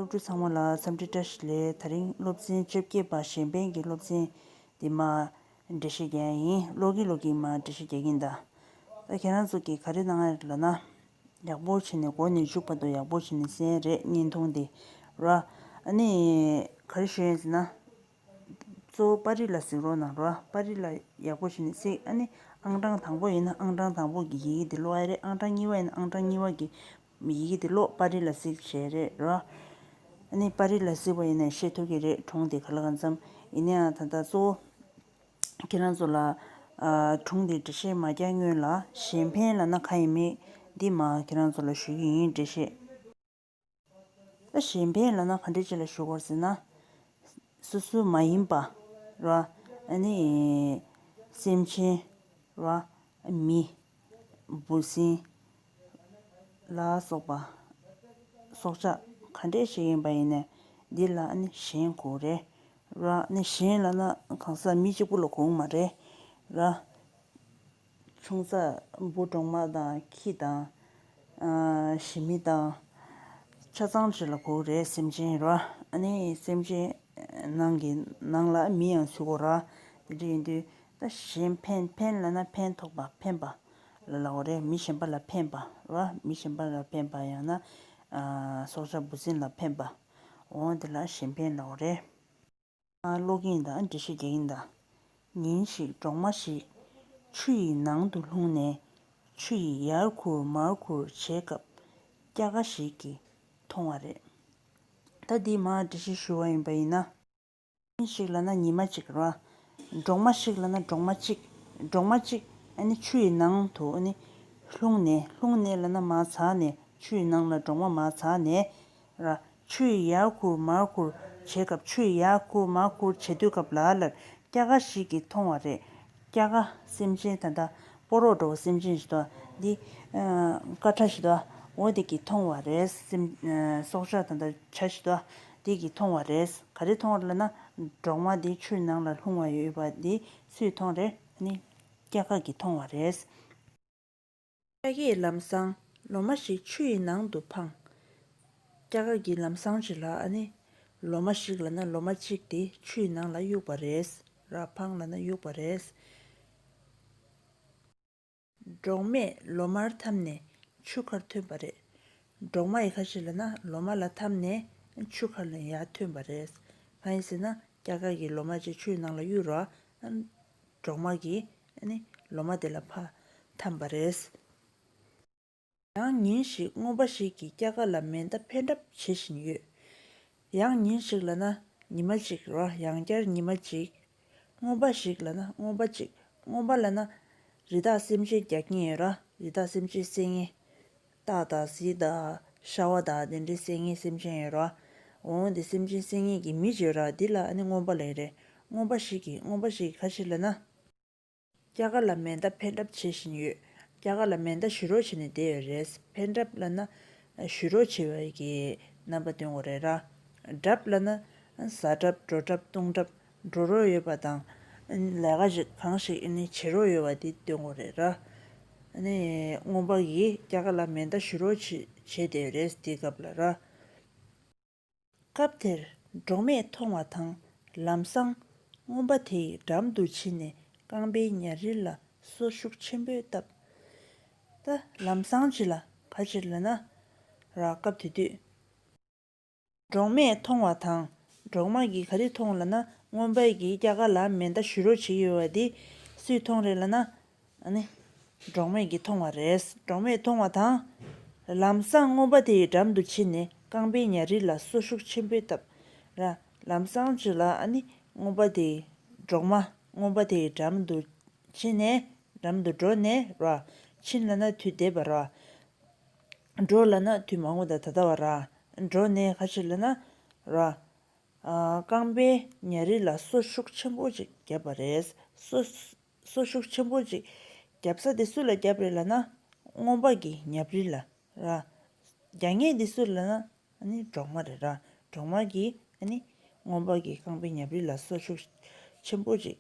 སློབ་ཕྲུག་ཚང་མ་ལ་འཚམས་འདྲི་བཀྲ་ཤིས་ལེ་ད་རིང་སློབ་ཚན་བཅོ་བརྒྱད་པ་གཞན་ཕན་གྱི་སློབ་ཚན་དེ་མ་འབྲི་ཤེས་ཀྱི་ཡིན་ཀློག་གིན་ཀློག་གིན་མ་འབྲི་ཤེས་ཀྱི་ཡིན་ད། ད་ཁྱེད་རང་ཚོ་གིས་ག་རེ་གནང་ཡ་རེད་ལབ་ན། ཡག་པོ་བྱེད་ནས་གོ་ནས་བཞུགས་པ་དང་ཡག་པོ་བྱེད་ནས་གསན་རེད་བརྙན་ཐུང་དེ་ར། ཨ་ནི། ག་རེ་ཞུ་ཡིན་ཟེར་ན། གཙོ་བོ་པར་རིས་ལ་གཟིགས་རོགས་གནང་ར་པར་རིས་ལ་ཡག་པོ་བྱེད་ནས་གཟིགས་ཨ་ནི་ཨང་གྲངས་དང་པོ་ཡིན་ན་ཨང་གྲངས་དང་པོ་གི་ཡི་གེ་དེ་ཀློག་ཡ་རེད་ཨང་གྲངས་གཉིས་པ་ཡིན་ན་ཨང་གྲངས་གཉིས་པ་གི། མི་ཡིག་དེ་ལོག་པ་རི་ལ་གཟིགས་བྱས་རེད་རོ། ཨ་ནི་པ་རི་ལ་གཟིགས་པ་ཡིན་ནའི་ཤེས་ཐུབ་ཀྱི་རེད་གྲོང་དེ་ག་ལ་གང་འཚམ་ཡིན་ནའང་ད་ལྟ་གཙོ་བོ་ཁྱེད་རང་ཚོ་ལ། གྲོང་དེའི་འགྲེལ་བཤད་མ་རྒྱག་སྔོན་ལ་གཞན་ཕན་ལ་ན་ཁ་ཡིན་མིན་འདི་མ་ཁྱེད་རང་ཚོ་ལ་ཞུས་ཀྱི་ཡིན་འགྲེལ་བཤད་ད་གཞན་ཕན་ལ་ན་ཁ་འགྲེལ་བྱེད་ལ་ཞུ་དགོར་ཟེར་ན། སོ་སོའི་མ་ཡིན་པ་རོ། ཨ་ནི། སེམས་ཅན་རོ། མི། འབུ་སྲིན། ལ་སོགས་པ། སྲོག་ཆགས་ག་འདྲའི་ཞིག་ཡིན་པ་ཡིན་ནས་འདི་ལ་ནི་གཞན་གོ་རེ་ར་ནི་གཞན་ལ་ན་གང་ཟག་མི་གཅིག་པུ་ལ་གོང་མ་རེ་ར། ཆུང་ས་འབུ་གྲོག་མ་དང་ཁྱི་དང། ཞི་མི་དང། ཆ་ཚང་བྱེད་ལ་གོ་རེ་སེམས་ཅན་ར་ནི་སེམས་ཅན་ནང་གི་ནང་ལ་མི་ཡང་ཚུད་གོ་ར་དེ་འདྲ་ཡིན་དུས་ད་གཞན་ཕན་ཕན་ལ་ན་ཕན་ཐོགས་པ་ཕན་པ་ལ་ལའོ་རེ་མི་གཞན་པ་ལ་ཕན་པ་བ་མི་གཞན་པ་ལ་ཕན་པ་ཡང་ན་སྲོག་ཆགས་འབུ་སྲིན་ལ་ཕན་པའོ་དེ་ལ་གཞན་ཕན་ལའོ་རེ། ཀློག་གིན་དང་འགྲེལ་བཤད་རྒྱག་གིན་དང། ཉིན་ཞིག་འབྲོག་མ་ཞིག་ཆུ་ཡི་ནང་དུ་ལྷུང་ནས་ཆུ་ཡིས་ཡར་འཁུར་མར་འཁུར་བྱས་སྐབས་སྐྱ་ཀ་ཞིག་གིས་མཐོང་བ་རེད། ད་འདིས་མར་འགྲེལ་བཤད་ཞུ་བ་ཡིན་པ་ཡིན་ན། གཉིས་ཤིག་ལ་ན་ཉི་མ་གཅིག་རོ། འབྲོག་མ་ཞིག་ལ་ན་འབྲོག་མ་གཅིག། འབྲོག་མ་གཅིག་ནི་ཆུ་ཡི་ནང་དུ་ནི། ལྷུང་ནས་ལྷུང་ནས་ལ་ན་མ་ཚང་ནས་ཆུ་ཡི་ནང་ལ་འབྲོག་མ་མ་ཚང་ནས། ར། ཆུ་ཡི་ཡར་བསྐུར་མར་བསྐུར་བྱེད་སྐབས་ཆུ་ཡི་ཡར་བསྐུར་མར་བསྐུར་བྱེད་དུས་སྐབས་ལ་ལར་སྐྱ་ཀ་ཞིག་གིས་མཐོང་བ་རེད། སྐྱ་ཀ། སེམས་ཅན་ད་ལྟ་པོ་རོགས་འགྲོ་བ་སེམས་ཅན་ཞིག་དང་འདི། ཀ་ཁྲ་ཞིག་དང་འོ་དེ་གིས་མཐོང་བ་རེད་སེམས། སྲོག་ཆགས་ད་ལྟ་བྱ་ཞིག་དང་དེ་གིས་མཐོང་བ་རེད། ག་རེ་མཐོང་རེད་ལ་ན། འབྲོག་མ་དེ་ཆུ་ནང་ལ་ལྷུང་བ་ཡོད་པ་དེ་སུས་མཐོང་རེད། ཨ་ནི། སྐྱ་ཁ་གིས་མཐོང་བ་རེད། སྐྱ་ཁས་ལམ་སང་ལོ་མ་ཞིག་ཆུ་ཡི་ནང་དུ་འཕངས། སྐྱ་ཁ་གིས་ལམ་སང་བྱས་ལ་ཨ་ནི། ལོ་མ་ཞིག་ལ་ན་ལོ་མ་གཅིག་དེ་ཆུ་ཡི་ནང་ལ་གཡུགས་པ་རེད། ར་འཕངས་ལ་ན་གཡུགས་པ་རེད། འབྲོག་མས་ལོ་མར་འཐམ་ནས་ཆུ་ཁར་ཐོན་པ་རེད། འབྲོག་མ་ཡི་ཁ་ཤས་ལ་ན་ལོ་མ་ལ་འཐམ་ནས་ཆུ་ཁར་ལ་ཡང་ཐོན་པ་རེད། མ་ཡིན་ཟེར་ན་སྐྱ་ཀ་གིས་ལོ་མ་ཅིག་ཆུའི་ནང་ལ་གཡུགས་རོགས། འབྲོག་མ་གིས་ནི་ལོ་མ་དེ་ལ་ཕ་འཐམ་པ་རེད། ཡང་ཉིན་ཞིག་རྔོན་པ་ཞིག་གིས་སྐྱ་ཀ་ལ་མེ་མདའ་འཕེན་གྲབས་བྱེད་བཞིན་ཡོད། ཡང་ཉིན་ཞིག་ལ་ན་ཉི་མ་ཅིག་རོ་ཡང་བསྐྱར་ཉི་མ་ཅིག། རྔོན་པ་ཞིག་ལ་ན་རྔོན་པ་ཅིག་རྔོན་པ་ལ་ན། རི་དྭགས་སེམས་ཅན་རྒྱག་གིན་ཡོད་ར་རི་དྭགས་སེམས་ཅན་བསད་ངེས། སྟག་དང་གཟིག་དང་ཤ་བ་དང་དེ་འདྲའི་བསད་ངེས་སེམས་ཅན་ཡོད་ར། འོང་དེ་སེམས་ཅན་བསད་ངེས་ཀྱི་མི་བྱོས་ར་འདི་ལ་ཨ་ནི་རྔོན་པ་ལས་རེད་རྔོན་པ་ཞིག་གིས་རྔོན་པ་ཞིག་གི་ཁ་ཕྱིར་ལ་ན། སྐྱ་ག་ལ་མེ་མདའ་འཕེན་གྲབས་བྱེད་བཞིན་ཡོད། སྐྱ་ག་ལ་མེ་མདའ་བཞུ་རོགས་བྱས་ནས་བསྡད་ཡོད་རེད། འཕེན་གྲབས་བླ་ན། བཞུ་རོགས་བྱེད་པའི་གི་རྣམ་པ་སྟོན་གོ་རེད་ར། གྲབས་བླ་ན། ཟ་གྲབས་འགྲོ་གྲབས་བཏུང་གྲབས་འགྲོ་རོགས་ཡོད་པ་དང། ལས་ཀ་ཞིག་གང་ཞིག་ཨེ་ནི་བྱེད་རོགས་ཡོད་བ་དེ་སྟོན་གོ་རེད་ར། ཨ་ནི། རྔོན་པ་གིས་སྐྱ་ག་ལ་མེ་མདའ་བཞུ་རོགས་བྱས་བསྡད་ཡོད་རེད་དེའི་སྐབས་ལ་ར། སྐབས་དེར་འབྲོག་མས་མཐོང་བ་དང་ལམ་སང། རྔོན་པ་དེའི་འགྲམ་དུ་ཕྱིན་ནས་རྐང་པའི་ཉྭ་རིལ་ལ་སོ་ཤུགས་ཆེན་པོས་བཏབ། ད་ལམ་སང་ཅི་ལ་ག་ཕྱིར་ལ་ན། ར་སྐབས་དེ་དུས། འབྲོག་མས་མཐོང་བ་དང་འབྲོག་མ་གིས་ག་རེ་མཐོང་ལ་ན་རྔོན་པས་ཀྱིས་སྐྱ་ཀ་ལ་མེ་མདའ་བཞུ་རོགས་བྱེད་ཀྱི་ཡོད་བ་དེ་སུས་མཐོང་རེད་ལ་ན། ནི། འབྲོག་མེད་ཀྱིས་མཐོང་བ་རེད། འབྲོག་མེད་མཐོང་བ་དང། ལམ་སང་རྔོན་པ་དེའི་འགྲམ་དུ་ཕྱིན་ནས་རྐང་པའི་ཉྭ་རིས་ལ་སོ་ཤུགས་ཆེན་པོས་བཏབ། ལམ་སང་ཅི་ལ་ཨ་ནི། རྔོན་པ་དེས། འབྲོག་མ། རྔོན་པ་དེའི་འགྲམ་དུ། ཕྱིན་ནས། འགྲམ་དུ་འགྲོ་ནས་ར། ཕྱིན་ལ་ན་དུས་འདས་པ་ར། འགྲོ་ལ་ན་དུས་མང་པོ་དང་ད་ལྟ་བ་ར། འགྲོ་ནས་ཁ་ཕྱིར་ལ་ན། ར། རྐང་པའི་ཉྭ་རིས་ལ་སོ་ཤུགས་ཆེན་པོ་ཅིག་བརྒྱབ་པ་རེད། སོ། སོ་ཤུགས་ཆེན་པོ་ཅིག་བརྒྱབ་ས་དེ་སུ་ལ་བརྒྱབ་རེད་ལ་ན། སྔོན་དཔག་གི་ཉབ་རི་ལ་ར། རྒྱ་སྙེ་འདི་སུ་རེད་ལ་ན། འབྲོག་དམར་རེད་ར། འབྲོག་དམར་གྱིས། སྔོན་དཔག་གི་རྐང་པའི་ཉབ་རི་ལ་སོ་ཤུགས་ཆེན་པོ་ཅིག་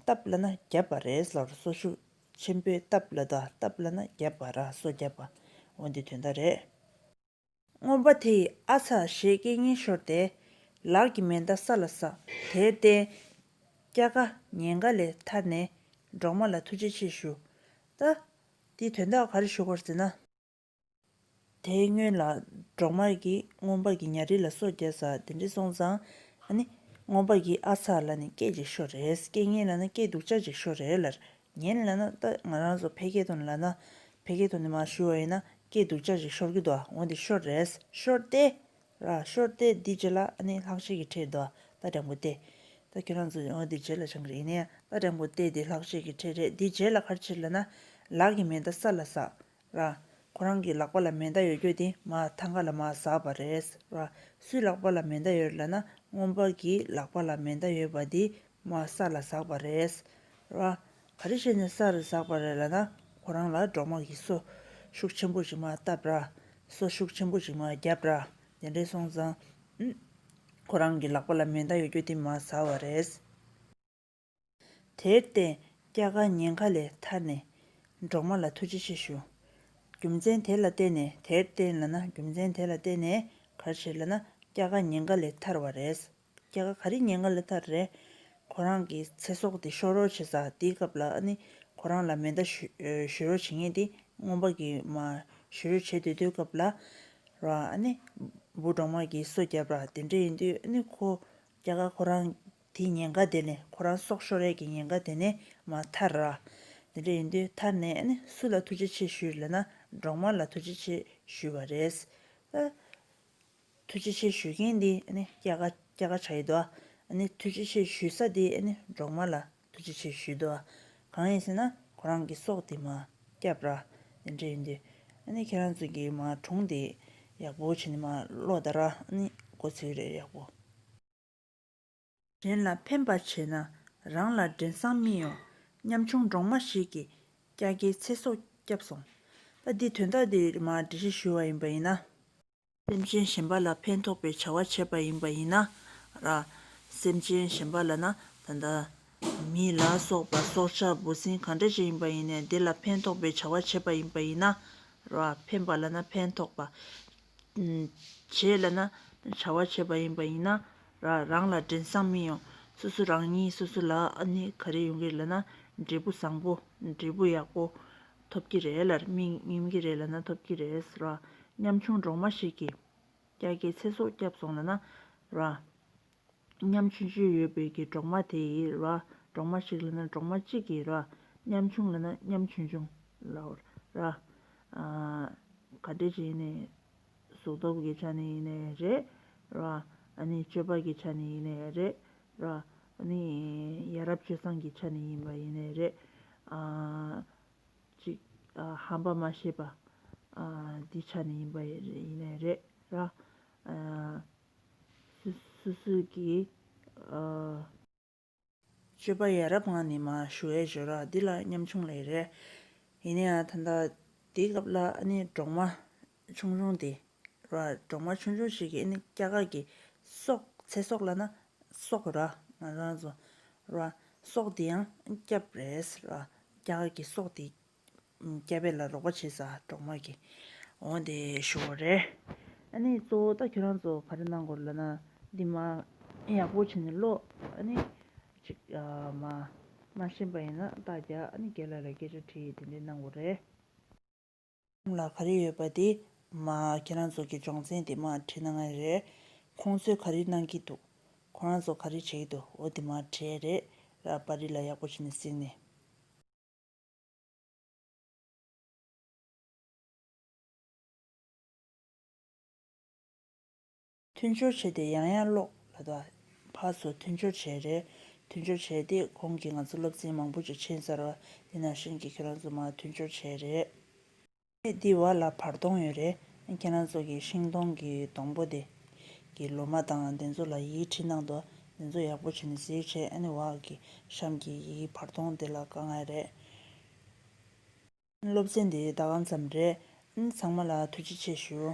བཏབ་ལ་ན་བརྒྱབ་པ་རེད་ཟེར་བ་སོ་ཤུགས་ཆེན་པོས་བཏབ་ལ་ད་བཏབ་ལ་ན་བརྒྱབ་པ་ར་སོ་བརྒྱབ་པ་འོ་འདི་དོན་དག་རེད། རྔོན་པ་དེ་ཡིས་ཨ་ཚ་ཞེས་སྐད་སྙན་ཤོར་ཏེ། ལག་གི་མེ་མདའ་ས་ལ་བསགས། དེར་བརྟེན། སྐྱ་ཀ་ཉེན་ཁ་ལས་ཐར་ནས་འབྲོག་མ་ལ་ཐུགས་རྗེ་ཆེ་ཞུ། ད། འདིའི་དོན་དག་ག་རེ་ཞུ་དགོས་ཟེར་ན། དེའི་སྔོན་ལ་འབྲོག་མ་རེ་གིས་རྔོན་པ་གྱི་ཉྭ་རིལ་ལ་སོ་བརྒྱ་ཟ་དེ་འདྲི་སོང་ཙང། ཨ་ནི། རྔོན་པ་གྱིས་ཨ་ཚ་ལ་ནི་སྐད་ཅིག་ཤོར་རེད་སྐད་སྙན་ལ་ནི་སྐད་སྡུག་ཅག་ཅིག་ཤོར་རེད་ལར་ངས་ལ་ན་ད་ང་རང་ཚོ་ཕལ་སྐད་དོན་ལ་ན་ཕལ་སྐད་དོན་དེ་མ་ཞུ་བ་ཡིན་ན་སྐད་སྡུག་ཅག་ཅིག་ཤོར་གི་འདུག་འོན་ཏེ་ཤོར་རེད་ཤོར་ཏེ། ར་ཤོར་ཏེ་འདི་རྗེས་ལ་ཨ་ནི་ལྷག་བཤད་ཀྱི་ཁྲེལ་འདུག་ད་དྲང་པོ་བལྟས། ད་ཁྱོད་རང་ཚོ་འོན་ཏེ་རྗེས་ལ་བྱང་གི་ཡིན་ན་ཡང་ད་དྲང་པོ་བལྟས་འདི་ལྷག་བཤད་ཀྱི་ཁྲེལ་རེད་འདི་རྗེས་ལ་ཕར་ཕྱིར་ལ་ན་ལག་གི་མེ་མདའ་ས་ལ་ཟགས། ར། ཁོ་རང་གི་ལག་པ་ལ་མེ་མདའ་ཡོད་ཁྱོད་དེ་མ་ཐང་ག་ལ་མ་ཟགས་པ་རེད། ར། སུའི་ལག་པ་ལ་མེ་མདའ་ཡོད་ལ་ན་རྔོན་པ་གི་ལག་པ་ལ་མེ་མདའ་ཡོད་པ་དེ་མ་ས་ལ་ཟགས་པ་རེད། ར། ག་རེ་བྱས་ནས་ས་རུ་ཟགས་པ་རེད་ལ་ན་ཁོ་རང་ལ་འབྲོག་དམངས་ཀྱིས་སོ་ཤུགས་ཆེན་པོ་ཞིག་མ་བཏབ་ར། སོ་ཤུགས་ཆེན་པོ་ཞིག་མ་བརྒྱབ་ར། དེ་འདྲས་སོང་ཙང། ཁོ་རང་གི་ལག་པ་ལ་མེ་མདའ་ཡོད་ཁྱོད་དེ་མ་ཟགས་བ་རེད། དེར་བརྟེན་སྐྱ་ཀ་ཉེན་ཁ་ལས་ཐར་ནས་འབྲོག་མ་ལ་ཐུགས་རྗེ་ཆེ་ཞུ། རྒྱུ་མཚན་དེ་ལ་བརྟེན་ནས་དེར་བརྟེན་ལ་ན་རྒྱུ་མཚན་དེ་ལ་བརྟེན་ནས་གར་བྱེད་ལ་ན་སྐྱ་ཀ་ཉེན་ཁ་ལས་ཐར་བ་རེད། སྐྱ་ཀ་ག་རེ་ཉེན་ཁ་ལས་ཐར་རེད། ཁོ་རང་གི་ཚེ་སྲོག་དེ་ཤོར་རོགས་བྱེད་ས་དེའི་སྐབས་ལ་ནི་ཁོ་རང་ལ་མེ་མདའ་གཞུས་རོགས་བྱེད་ངེས་དེ་རྔོན་པ་གི་མ་གཞུས་རོགས་བྱེད་འདོད་དོའི་སྐབས་ལ་ར་ཨ་ནི་འབུ་འབྲོག་མ་གི་སོ་རྒྱབ་ར་དེ་འདྲས་ཡིན་དུས་ཨ་ནི་ཁོ་སྐྱ་ཀ་ཁོ་རང་དེའི་ཉེན་ཁ་དེ་ནི་ཁོ་རང་སྲོག་ཤོར་རེས་ཀྱི་ཉེན་ཁ་དེ་ནི་མ་ཐར། དེ་འདྲ་ཡིན་དུས་ཐར་ནས་ནི་སུ་ལ་ཐུགས་རྗེ་ཆེ་ཞུས་ལ་ན་འབྲོག་མ་ལ་ཐུགས་རྗེ་ཆེ་ཞུས་བ་རེད། ཐུགས་རྗེ་ཆེ་ཞུས་མཁན་དེ་ནི་སྐྱ་ཀ་སྐྱ་ཀ་བྱ་ཡི་དོ། ཐུགས་རྗེ་ཆེ་ཞུས་ས་དེ་ནི་འབྲོག་མ་ལ་ཐུགས་རྗེ་ཆེ་ཞུས་དོ། གང་ཡིན་ཟེར་ན་ཁོ་རང་གི་སྲོག་དེ་མ་བསྐྱབས། དེ་འདྲ་ཡིན་དུས་ཁྱེད་རང་ཚོ་གིས་མ་གྲོངས་དེ་ཡག་པོ་བྱས་ནས་མ་བློ་དར་མགོ་ཚུགས་རེས་ཡག་པོ། གཞན་ལ་ཕན་པར་བྱས་ན་རང་ལ་འགྲན་སྲང་སྨིན་ཡོང་སྙམ་བྱུང་འབྲོག་མ་ཞིག་གིས་སྐྱ་ཀའི་ཚེ་སྲོག་བསྐྱབས་སོང། ད་འདིས་དོན་དག་འདི་རིགས་མར་འགྲེལ་བཤད་ཞུ་བ་ཡིན་པ་ཡིན་ན། སེམས་ཅན་གཞན་པ་ལ་ཕན་ཐོགས་པའི་བྱ་བ་བྱས་པ་ཡིན་པ་ཡིན་ན། ར། སེམས་ཅན་གཞན་པ་ལ་ན་ད་ད། མི་ལ་སོགས་པ་སྲོག་ཆགས་འབུ་སྲིན་གང་འདྲ་ཅན་ཡིན་པ་ཡིན་ནས་དེ་ལ་ཕན་ཐོགས་པའི་བྱ་བ་བྱས་པ་ཡིན་པ་ཡིན་ན། ར། ཕན་པ་ལ་ན་ཕན་ཐོགས་པ། བྱེད་ལ་ན་བྱ་བ་བྱེད་པ་ཡིན་པ་ཡིན་ན་རང་ལ་དྲན་བསམ་མི་ཡོང་སོ་སོ་རང་ཉིད་སོ་སོ་ལ་ནི་ག་རེ་ཡོང་གི་རེད་ལ་ན་འབྲས་བུ་བཟང་པོ་འབྲས་བུ་ཡག་པོ་ཐོབ་ཀྱི་རེད་ལ་སྨིན་གྱི་རེད་ལ་ན་ཐོབ་ཀྱི་རེད་ཟེར་བ་ཉམ་ཆུང་གྲོག་མ་ཞིག་གིས་སྐྱ་ཀའི་ཚེ་སྲོག་བསྐྱབས་སོང་ལ་ན་ར། མཉམ་ཆུང་བཅུ་ཡོད་པའི་གྱི་གྲོག་མ་དེ་ཡི་རོ་ཨ། གྲོག་མ་ཞིག་ལ་ན་གྲོག་མ་གཅིག་གི་རོ་ཨ། མཉམ་ཆུང་ལ་ན་མཉམ་ཆུང་ཆུང་ལ་ཨོ་ར། ག་འདྲེ་ཅི་ཡིན་ནའི། གཟུགས་སྟོབས་ཀྱི་ཆ་ནས་ཡིན་ནའི་རེད། རོ་ཨ། ཨ་ནི་སྤྱོད་པ་གྱི་ཆ་ནས་ཡིན་ནའི་རེད། རོ་ཨ། ཨ་ནི་ཡ་རབས་སྤྱོད་བཟང་གི་ཆ་ནས་ཡིན་པ་ཡིན་ནའི་རེད། ཅིག། ཧམ་པ་མ་ཤེས་པ། འདི་ཆ་ནས་ཡིན་པ་ཡིན་ནའི་རེད། རོ་ཨ། སུ་སུ་ཀི། ཨོ། སྤྱོད་པ་ཡ་རབས་ངང་ནས་མ་ཞུ་ཨེ་ཞོ་རག་འདི་ལ་ཉམ་ཆུང་ལེ་རེད། ཡིན་ན་ཡང་ད་འདའ་དེའི་སྐབས་ལ་ཨ་ནི་འབྲོག་མ་ཆུང་ཆུང་དེ་ར་འབྲོག་མ་ཆུང་ཆུང་ཞིག་གི་ཨ་ནི་སྐྱ་དཀར་གི་སོག་ཚེ་སོག་ལ་ན་སོག་ར་ང་རང་ར་སོག་དེ་ཡང་སྐྱབས་རེད་ར་སྐྱ་དཀར་གི་སོག་དེ་སྐྱ་བྷེ་ལ་རོགས་པ་བྱེད་ས་གྲོགས་མོད་ཀྱི། འོང་དེ་ཞུ་བ་རེད། ཨ་ནི་གཙོ་བོ་ད་ཁྱོད་རང་ཚོ་ག་རེ་གནང་དགོས་ལབ་ན་འདི་མ་ཡག་པོ་བྱེད་ནས་ཀློག་ཨ་ནི་ཅིག་མ་མ་ཤེས་པ་ཡིན་ན་རྟགས་རྒྱག་ཨ་ནི་རྒྱལ་ལ་ལ་སྐད་ཆ་དྲི་ཡིས་དེ་འདྲས་གནང་དགོས་རེད། ཁྱོད་ལ་ག་རེ་ཡོད་པ་དེ་མ་ཁྱེད་རང་ཚོ་གི་སྦྱོང་ཚན་དེ་མ་བྲིས་ན་ངའི་རེད། ཁོང་ཚོས་ག་རེ་གནང་གི་འདུག་ཁོ་རང་ཚོ་ག་རེ་བྱེད་ཀྱི་འདུག་འོ་དེ་མ་བྲིས་རེད་ར་པ་རི་ལ་ཡག་པོ་བྱེད་ནས་གཟིགས་ནས། མཐུན་སྦྱོར་བྱས་ཏེ་ཡང་ཡང་ཀློག་ལ་དང། ཕར་ཚུར་མཐུན་སྦྱོར་བྱས་རེད། མཐུན་སྦྱོར་བྱས་ཏེ་གོང་གི་ང་ཚོ་སློབ་ཚན་མང་པོ་ཅིག་ཕྱིན་ཚར་བ་ཡིན་ནང་བཞིན་གྱི་ཁྱོད་རང་ཚོ་མར་མཐུན་སྦྱོར་བྱས་རེད། ཚེ་འདི་བར་ལ་བར་སྟོང་ཡོད་རེད། ཁྱེད་རང་ཚོ་གི་ཤིང་སྡོང་གི་སྡོང་པོ་དེ། གི་ལོ་མ་དང་དེ་ཚོ་ལ་ཡིད་ཁྲིད་གནང་འདུག་དེ་ཚོ་ཡག་པོ་བྱས་ནས་གཟིགས་བྱས་ཨ་ནི་བ་གི་གཤམ་གྱི་ཡི་གེ་བར་སྟོང་དེ་ལ་དཀའ་ངལ་རེད། སློབ་ཚན་འདི་ཟླ་གང་ཙམ་རེད། ཚང་མ་ལ་ཐུགས་རྗེ་ཆེ་ཞུ།